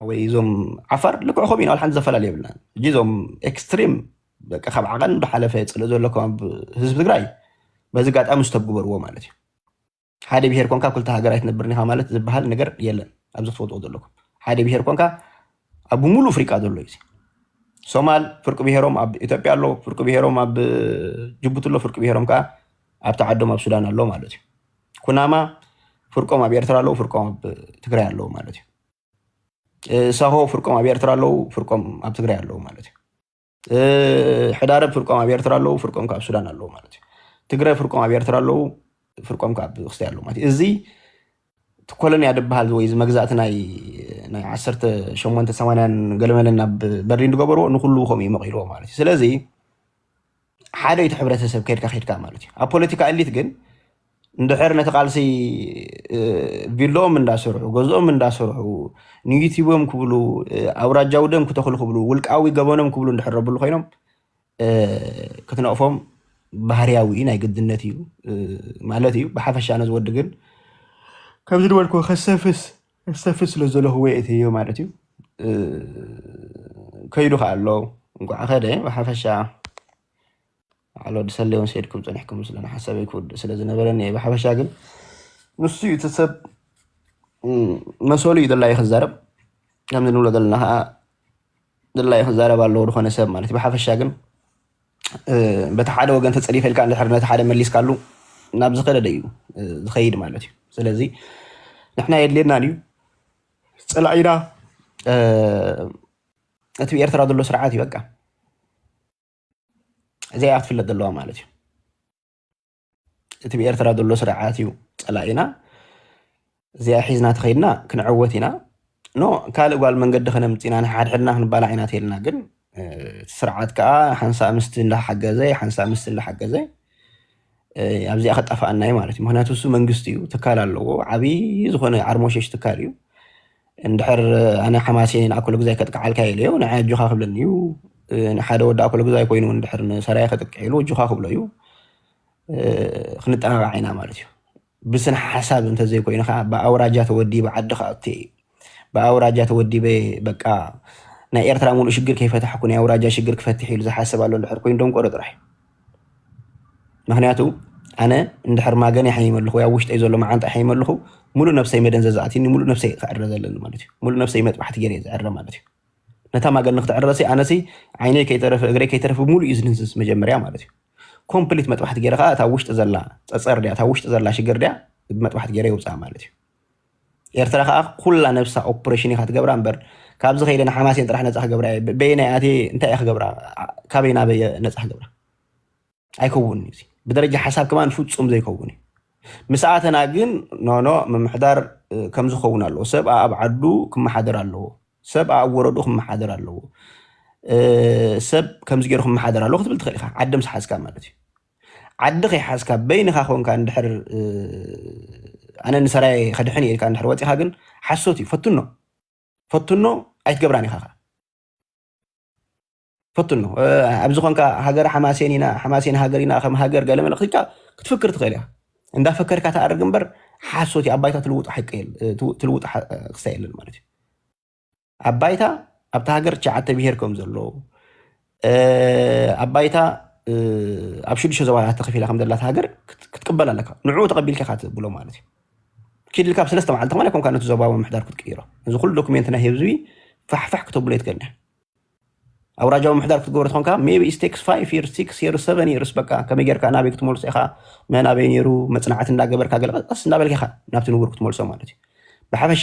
ወይ እዞም ዓፋር ልክዕ ከምኡ ኢና ሓንቲ ዘፈላለ የብልናን እጂ እዞም ኤክስትሪም በቃ ካብ ዓቐን ብሓለፈ ፅልእ ዘሎ ከም ህዝቢ ትግራይ በዚ ጋጣሚ ዝተግበርዎ ማለት እዩ ሓደ ብሄር ኮንካ ክልተ ሃገር ኣይትነብርን ኢኻ ማለት ዝበሃል ነገር የለን ኣብዚ ክትፈልጥዎ ዘለኩም ሓደ ብሄር ኮንካ ኣብ ሙሉእ ኣፍሪቃ ዘሎ እዩ ሶማል ፍርቂ ብሄሮም ኣብ ኢትዮጵያ ኣሎ ፍርቂ ብሄሮም ኣብ ጅቡቲ ኣሎ ፍርቂ ብሄሮም ከዓ ኣብቲ ዓዶም ኣብ ሱዳን ኣሎ ማለት እዩ ኩናማ ፍርቆም ኣብ ኤርትራ ኣለዉ ፍርቆም ኣብ ትግራይ ኣለዉ ማለት እዩ ሳሆ ፍርቆም ኣብ ኤርትራ ኣለዉ፣ ፍርቆም ኣብ ትግራይ ኣለዉ ማለት እዩ። ሕዳረብ ፍርቆም ኣብ ኤርትራ ኣለዉ፣ ፍርቆም ካብ ሱዳን ኣለዉ ማለት እዩ። ትግረ ፍርቆም ኣብ ኤርትራ ኣለዉ፣ ፍርቆም ካብ ክስታይ ኣለዉ ማለት እዩ። እዚ ኮሎንያ ድበሃል ወይ እዚ መግዛእቲ ናይ ናይ ዓሰርተ ሸሞንተ ሰማንያን ገለመለን ናብ በርሊን ዝገበርዎ ንኩሉ ከምኡ እዩ መቂልዎ ማለት እዩ። ስለዚ ሓደ እቲ ሕብረተሰብ ከድካ ከድካ ማለት እዩ ኣብ ፖለቲካ እሊት ግን እንድሕር ነቲ ቃልሲ ቪሎኦም እንዳሰርሑ ገዝኦም እንዳሰርሑ ንዩቲቦም ክብሉ ኣውራጃዊ ደም ክተኽሉ ክብሉ ውልቃዊ ገበኖም ክብሉ እንድሕረብሉ ኮይኖም ክትነቕፎም ባህርያዊ ናይ ግድነት እዩ ማለት እዩ ብሓፈሻ ነዚ ወዲ ግን ከምዚ ድበልኩ ከሰፍስ እሰፍት ስለ ዘለክዎ የእተዮ ማለት እዩ ከይዱ ከኣ ኣሎ እንኳዕ ከደ ብሓፈሻ ባዕል ወዲ ሰሌ ውን ሰይድኩም ጸኒሕኩም ስለ ሓሳበይ ክውድእ ስለ ዝነበረኒ እየ ብሓፈሻ ግን ንሱ እዩ እቲ ሰብ መሰሉ እዩ ደላይ ክዛረብ ከምዚ ንብሎ ዘለና ከዓ ደላይ ክዛረብ ኣለዎ ዝኾነ ሰብ ማለት እዩ ብሓፈሻ ግን በቲ ሓደ ወገን ተፀሊፈ ኢልካ እንድሕር ነቲ ሓደ መሊስካሉ ናብ ዝኸደደ እዩ ዝኸይድ ማለት እዩ ስለዚ ንሕና የድልየና እዩ ፀላኢና እቲ ብኤርትራ ዘሎ ስርዓት እዩ በቃ እዚኣ ክትፍለጥ ዘለዋ ማለት እዩ እቲ ብኤርትራ ዘሎ ስርዓት እዩ ፀላኢና እዚኣ ሒዝና ተኸይድና ክንዕወት ኢና ኖ ካልእ ጓል መንገዲ ከነምፅና ንሓድሕድና ክንባላዕ ኢና ተልና ግን እቲ ስርዓት ከዓ ሓንሳእ ምስቲ እንዳሓገዘ ሓንሳእ ምስቲ እንዳሓገዘ ኣብዚኣ ከጣፍኣና እዩ ማለት እዩ ምክንያቱ እሱ መንግስቲ እዩ ትካል ኣለዎ ዓብይ ዝኮነ ዓርሞሸሽ ትካል እዩ እንድሕር ኣነ ሓማሴን ኣኮሎግዛይ ከጥቅዓልካ ኢለ እዩ ንዓይ ኣጆኻ ክብለኒ እዩ ንሓደ ወዲ ኣኮሎግዛይ ኮይኑ እንድሕር ንሰራየ ከጥቅዕ ኢሉ እጆኻ ክብሎ እዩ ክንጠናቃዕ ኢና ማለት እዩ ብስነ ሓሳብ እንተዘይኮይኑ ከዓ ብኣውራጃ ተወዲበ ዓዲ ክኣቱ እዩ ብኣውራጃ ተወዲበ በቃ ናይ ኤርትራ ሙሉእ ሽግር ከይፈታሕኩ ናይ ኣውራጃ ሽግር ክፈትሕ ኢሉ ዝሓስብ ኣሎ እንድሕር ኮይኑ ደንቆሮ ጥራሕ እዩ ምክንያቱ ኣነ እንድሕር ማገን ይሓይም ኣለኹ ወይ ኣብ ውሽጠይ ዘሎ መዓንጣ ይሓይም ኣለኹ ሙሉእ ነብሰይ መደንዘዚ ኣትዩኒ ሙሉእ ነብሰይ ክዕረ ዘለኒ ማለት እዩ ሙሉእ ነብሰይ መጥባሕቲ ገይረ እየ ዝዕረ ማለት እዩ ነታ ማገን ንክትዕረ ሲ ኣነ ሲ ዓይነይ ከይተረፈ እግረይ ከይተረፈ ሙሉእ እዩ ዝንዝዝ መጀመርያ ማለት እዩ ኮምፕሊት መጥባሕቲ ገይረ ከዓ እታ ውሽጢ ዘላ ፀፀር ድያ እታ ውሽጢ ዘላ ሽግር ድያ መጥባሕቲ ገይረ የውፅኣ ማለት እዩ ኤርትራ ከኣ ኩላ ነብሳ ኦፕሬሽን ኢካ ትገብራ እምበር ካብዚ ከይደ ንሓማሴን ጥራሕ ነጻ ክገብራ እየ በየናይ ኣትየ እንታይ እየ ክገብራ ካበይ ናበይ እየ ነጻ ክገብራ ኣይከውን እዩ ብደረጃ ሓሳብ ከማን ፍጹም ዘይከውን እዩ ምስኣተና ግን ኖኖ ምምሕዳር ከም ዝኸውን ኣለዎ ሰብ ኣብ ዓዱ ክመሓደር ኣለዎ ሰብ ኣብ ወረዱ ክመሓደር ኣለዎ ሰብ ከምዚ ገይሩ ክመሓደር ኣለዎ ክትብል ትኽእል ኢኻ ዓድም ስሓዝካ ማለት እዩ ዓዲ ከይሓዝካ በይንኻ ኮንካ እንድሕር ኣነ ንሰራየ ከድሕን እየ ኢልካ እንድሕር ወፂኻ ግን ሓሶት እዩ ፈትኖ ፈትኖ ኣይትገብራን ኢኻ ከ ፈትኖ ኣብዚ ኮንካ ሃገር ሓማሴን ኢና ሓማሴን ሃገር ኢና ከም ሃገር ገለ መለ ክትካ ክትፍክር ትኽእል ኢኻ እንዳፈከርካ ተኣርግ እምበር ሓሶት እዩ ኣባይታ ትልውጡ ሓቂ ትልውጡ ክስታ የለን ማለት እዩ ኣብ ባይታ ኣብታ ሃገር ትሽዓተ ብሄር ከም ዘሎ ኣብ ባይታ ኣብ ሽዱሽተ ዞባታት ተኸፊላ ከም ዘላት ሃገር ክትቅበል ኣለካ ንዕኡ ተቐቢልካ ኢኻ ትብሎ ማለት እዩ ኪድ ኢልካ ብሰለስተ መዓልቲ ከማን ኮንካ ነቲ ዞባዊ ምሕዳር ክትቅይሮ እዚ ኩሉ ዶክሜንት ናይ ህዝቢ ፋሕፋሕ ክተብሎ የትከልኒ ኣውራጃዊ ምሕዳር ክትገብሮ ትኾንካ ሜቢ ስቴክስ ፋይቭ ይር ሲክስ የር ሰቨን ይርስ በቃ ከመይ ጌርካ ናበይ ክትመልሶ ኢኻ መናበይ ነይሩ መፅናዕቲ እንዳገበርካ ገለቀስ እንዳበልካ ኢኻ ናብቲ ንቡር ክትመልሶ ማለት እዩ ብሓፈሻ